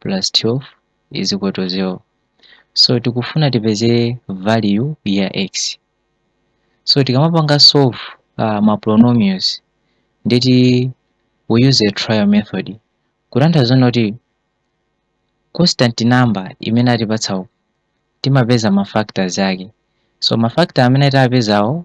plus 12 is equal to 0 so tikufuna tipeze value ya x so tikamapanga solve uh, ma polynomials ndeti we use a trial method kutanthauza kuti constant number imene atipatsawo timapeza ma factors ake so ma factor amene tapezawo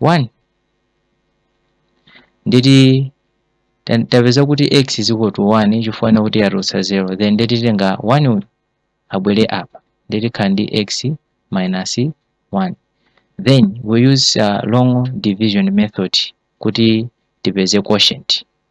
1 ndeti ta- tapeza kuti x is equal to 1 chifukwa chakuti yatulutsa 0 then nde titenga 1 uyu abwere apa nde tikhala ndi x minus 1 then we use uh, long division method kuti tipeze quotient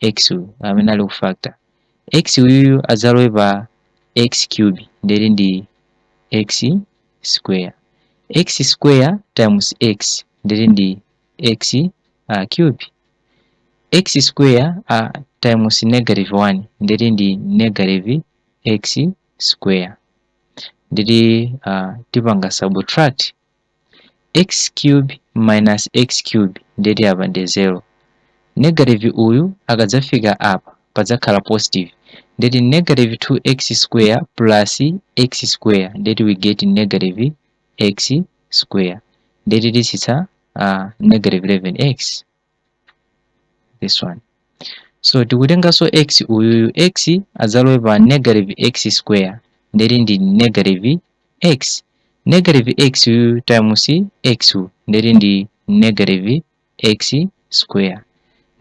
x uyu amene ali ku factor x uyuyu adzalowe pa x cube ndere ndi x square x square times x ndere ndi x uh, cube x square uh, times negative 1 ndere ndi negative x square ndiri uh, tipanga subtract x cube minus x cube ndeti apa ndi 0 negative uyu akadzafika apa padzakhala positive ndeti negative 2x square plus x square ndeti we get negative x square ndeti tisitsa uh, negative 11x this one so tikutenganso x uyuyu x adzalowe pa negative x square ndeti ndi negative x negative x uyu times x u ndeti ndi negative x square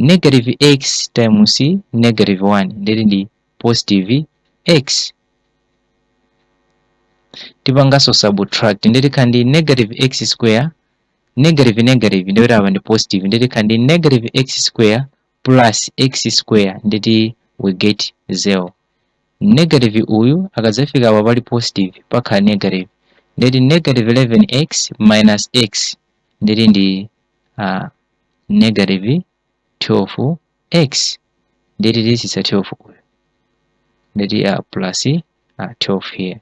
negative x times negative 1 ndeti ndi positive x tipanganso subtract ndeti khandi negative x square negative negative ndikuti apa ndi positive ndikuti khala ndi negative x square plus x square ndikuti we get 0 negative uyu akadzafika apa pali positive pakhala negative ndikuti negative 11x minus x ndikuti ndi uh, negative 12x ndikuti tisisa 12 uyu ndikuti uh, plus uh, 12 here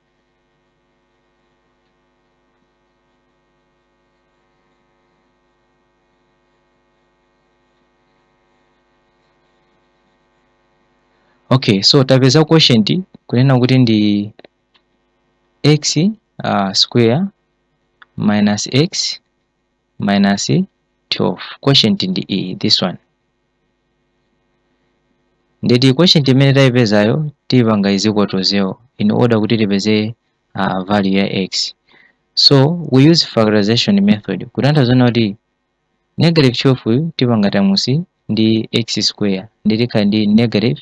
okay so tapeza quotient kunena kuti ndi x uh, square minus x minus 12 quotient ndi iyi this one ndeti quotient imene tayipezayo tipanga is equal to 0 in order kuti tipeze uh, value ya x so we use factorization method kutanthauza zonena kuti negative 12 uyu tipanga times ndi x square nde tikhala ndi negative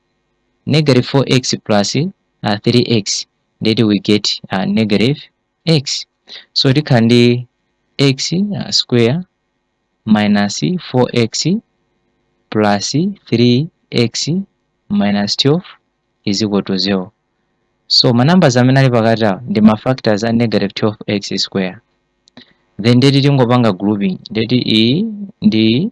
negative 4x plus uh, 3x ndeti we get uh, negative x so tikhala ndi x uh, square minus 4x plus 3x minus 12 is equal to 0 so ma numbers amene ali pakati awo ndi ma factors a negative 12x square then ndeti tingopanga grouping ndeti iyi ndi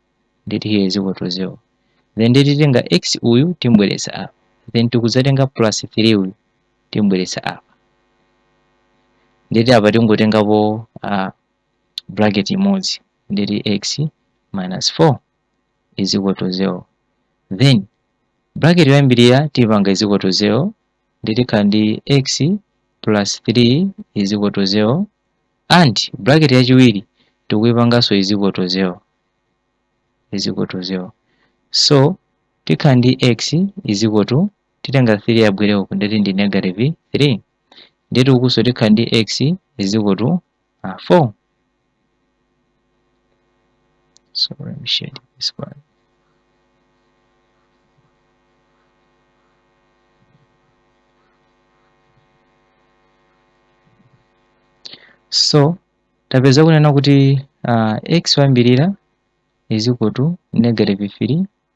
ndeti here is equal to 0 then nde titenga x uyu timubweretsa apa then tikuzatenga plus 3 uyu timubweretsa apa ndeti apa tingotengapo uh, bracket imodzi ndeti x minus 4 is equal to 0 then bracket yoyambirira tipanga is equal to 0 nde tikhala ndi x plus 3 is equal to 0 And bracket yachiwiri tikuipanganso is equal to 0 is equal to 0 so tikhala ndi x is equal to titenga 3 yabwere uku ndeti ndi negative 3 ndeti ukunso tikhala ndi x is equal to uh, 4 So let me shade this one. so tapeza kunena kuti uh, x wayambirira is equal to negative 3